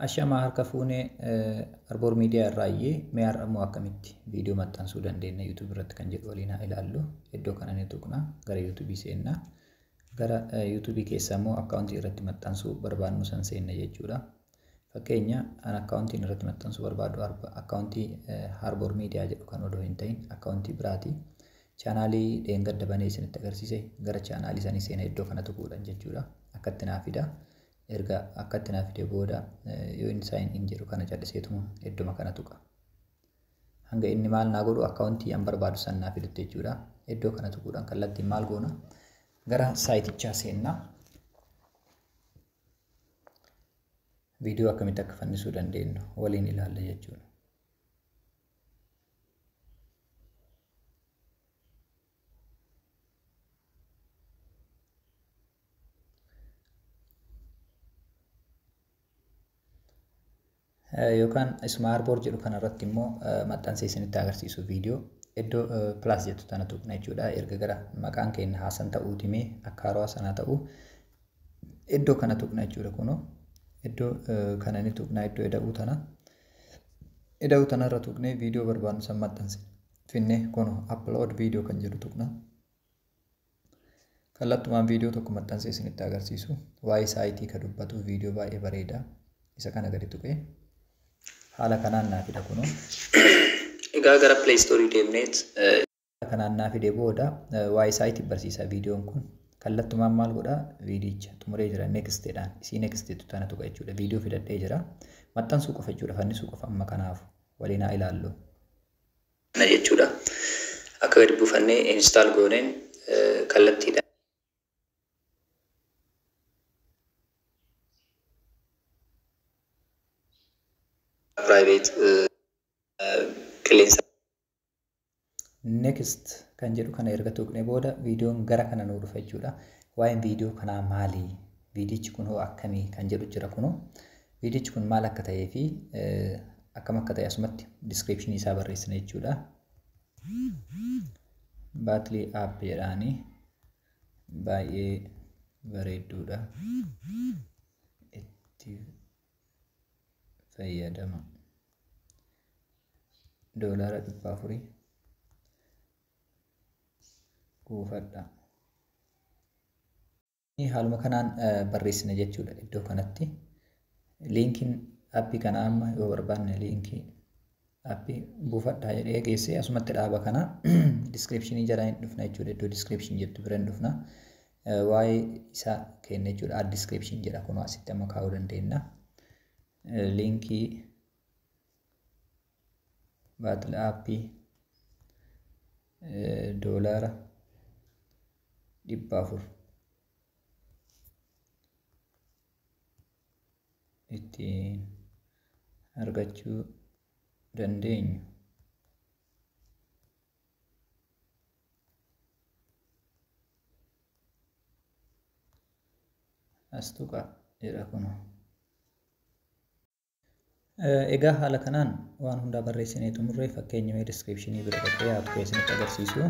Ashamaa harka fuune Arboor Miidiyaa irraayyi mee har'a immoo akkamitti viidiyoo maxxansuu dandeenya YouTube irratti kan jedhu waliin haa ilaallu. Iddoo kana ni tuqna gara YouTube seenna. Gara YouTube keessa immoo akkaawuntii irratti maxxansuu barbaadnu san seenna jechuudha. Fakkeenya an akkaawuntiin irratti maxxansuu barbaadu akkaawuntii Arboor Miidiyaa jedhu kan odoo hin ta'in akkaawuntii biraati. Chaanaalii dheengadda banee isinitti agarsiise gara chaanaalii sanii seena iddoo kana tuquudhaan jechuudha. Akkatti naa fida. Erga akkatti naa fidee booda yoo inni sign in jedhu kana calliseetuma iddoma kana tuqa. Hanga inni maal naa godhu akkaawuntii an barbaadu san naa fidutti jechuudha. Iddoo kana tuquudhaan kallattiin maal goona gara saayitichaa seenna. Viidiyoo akkamitti akka fannisuu dandeenyu waliin ilaalla jechuudha. yookaan ismaarboor jedhu kanarratti immoo maxxansee isinitti agarsiisu viidiyoo iddoo pilaas jettu tana tuqna jechuudha erga gara maqaan keenya haasan ta'uu dimee akka harawaa sanaa ta'uu iddoo kana tuqna jechuudha kunoo iddoo kana ni tuqna iddoo ida'uu tana ida'uu tanarra tuqnee viidiyoo barbaadnu san maxxanse finne kuno upload video kan jedhu tuqna kallattumaan viidiyoo tokko maxxansee isinitti agarsiisu waa'ee saayitii ka dubbatu viidiyoo baay'ee bareeda isa kana gadi tuqee haala kanaan naa fida kuno Egaa gara Play Store deemneet haala kanaan naa fide booda waa'ee saayitii barsiisa viidiyoon kun kallattumaan maal godha viidiyicha xumuree jira next jedhaan isii next jettu tana tuqa jechuudha viidiyoo fidadhee jira maxxansuu qofa jechuudha fannisuu qofa amma kanaaf waliin haa ilaallu. kana jechuudha. Akka gadi buufannee install gooneen kallattiidhaan. private qilleensa. Next kan jedhu kana erga tuqne booda viidiyoon gara kana nuu dhufa jechuudha. Waa'een viidiyoo kanaa maali? Viidiyichi kun hoo akkamii kan jedhu jira kunoo. Viidichi kun maal akka ta'ee fi akkam akka ta'e asumatti diskiripshinii isaa barreessina jechuudha. Baatlii app jedhaani baay'ee bareedduudha. Itti fayyadama. Doolaara dhibba afurii kuufadha. Haaluma kanaan barreessina jechuudha iddoo kanatti. Liinkiin appii kana amma yoo barbaanne liinkii appii buufadhaa jedhee geessee asumatti dhaaba kana diskiripshinii jalaa hin dhufna jechuudha iddoo diskiripshin jettu bira hin dhufna. Waa'ee isaa kenna jechuudha ad diskiripshin jedha kunoo asitti amma kaa'uu dandeenya. Liinkii baatil aappii doolaara dhibba afur ittiin argachuu dandeenyu. Astuqa jedha kunoo. Egaa haala kanaan waan hundaa barreessinee xumurree fakkeenya mee descriptionii bira dhaqee haa tuqee isinitti agarsiisu.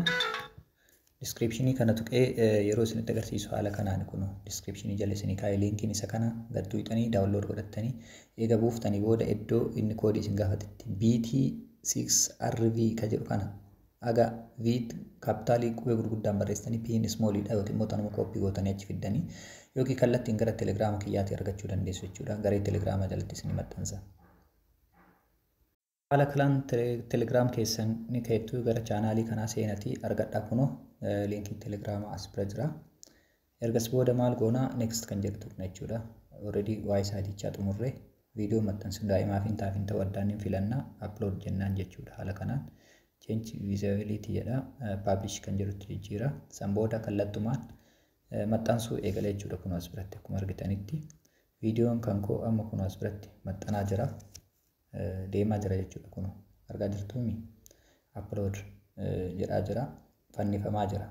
Descriptionii kana tuqee yeroo isinitti agarsiisu haala kanaan kun descriptionii jala isinii kaa'ee liinkiin isa kana gad tuqxanii daawunlood godhattanii eega buuftanii booda iddoo inni koodii isin gaafatitti BT6RV ka jedhu kana Haga Vit kaappitaalii qubee gurguddaan barreessitanii P'n small dha yookiin immoo tanuma copy gootanii achi fiddanii yookiin kallattiin gara telegraama kiyyaatii argachuu dandeessu jechuudha. Garee telegraamaa jalatti isinii maxxansa. Haala kalaan telegraam keessan ni keettu gara chaanaalii kanaa seenatii argadhaa kunoo liinkiin telegraamaa as bira jira. Ergas booda maal goona next kan jedhu tuqna jechuudha. Already waa'ee saayitichaa xumurree viidiyoo maxxansuun daa'imaaf hin taaf hin ta'u addaan hin filannaa upload jennaan jechuudha. Haala kanaan change visibility jedha publish kan jedhutti jijjiira. San booda kallattumaan maxxansuu eegala jechuudha kun as biratti akkuma argitanitti. Viidiyoon kan koo amma kun as biratti maxxanaa jira. Deemaa jira jechuudha kun argaa jirtuumi. Upload jedhaa jira. Fannifamaa jira.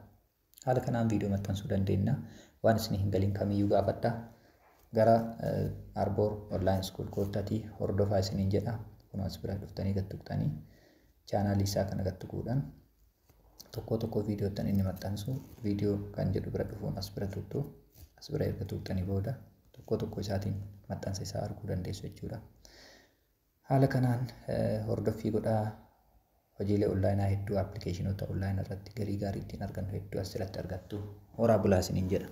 Haala kanaan viidiyoo maxxansuu dandeenya. Waan isin hin galin kamiyyuu gaafadha. Gara Arboor Online School koottatii hordofaa isiniin jedha. Kunoo as bira dhuftanii gad tuqxanii chaanaalii isaa kana gad tuquudhaan tokkoo tokkoo viidiyoottan inni maxxansu viidiyoo kan jedhu bira dhufuun as bira tuqxu. As bira erga tuqxanii booda tokkoo tokkoo isaatiin maxxansa isaa arguu dandeessu jechuudha. Haala kanaan hordoffii godhaa. Hojiilee onlaayinaa hedduu appilikeeshinoota onlaayina irratti galii gaarii ittiin argannu hedduu asirratti argattu. Horaa bulaa isiniin jedha.